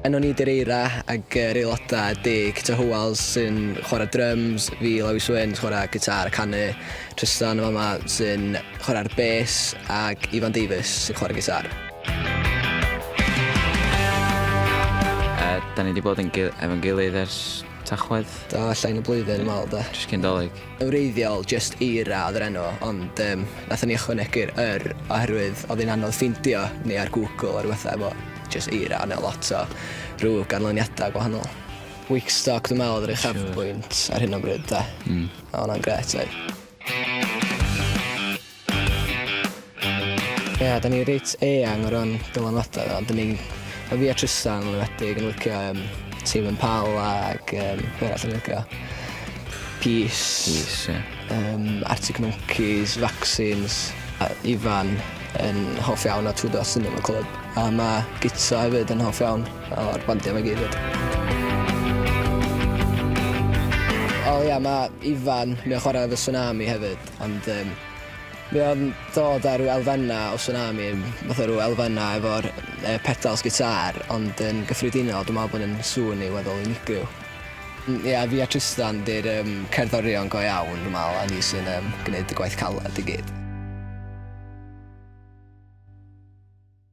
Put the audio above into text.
Yn o'n i Dereira ag yr aelodau deg Ty Howells sy'n chwarae drums, fi Lewis Swyn sy'n chwarae gitar a canu, Tristan yn fama sy'n chwarae'r bes ac Ifan Davies sy'n chwarae gitar. Uh, da ni wedi bod yn gil efo'n gilydd ers tachwedd. Da, llain y blwyddyn, mal da. Jyst cyn dolyg. Yn wreiddiol, jyst Eira oedd yr enw, ond yym nathon ni ychwanegu'r 'yr' oherwydd oedd hi'n anodd ffeindio ni ar Google a ryw betha efo jyst Eira, ond oedd lot o rhyw ganlyniadau gwahanol. Wigstock dwi'n meddwl oedd yr uchafbwynt ar hyn o bryd 'de? Mm. A oedd hwnna'n grêt oedd? Ia, da ni reit eang o ran dylanwadau, ond da ni, o fi a Tristan yn enwedig, yn licio um, Tîm yn Pal ac um, beth arall yn licio. Peace, Peace yeah. um, Arctic Monkeys, Vaccines, a Ifan yn hoff iawn o Two Dots Cinema Club. A mae Gitsa hefyd yn hoff iawn o'r bandiau mae gyd hefyd. O ia, mae Ifan, mae'n chwarae efo Tsunami hefyd. Ond yym mae o'n dod â rhyw elfennau o Tsunami, fatha rhyw elfennau efo'r yy pedals gitâr ond yn gyffredinol dwi'n meddwl bod e'n sŵn i'w weddol unigryw. Mm ia fi a Trystan 'di'r yym cerddorion go iawn dwi'n meddwl a ni sy'n yym gneud y gwaith caled i gyd.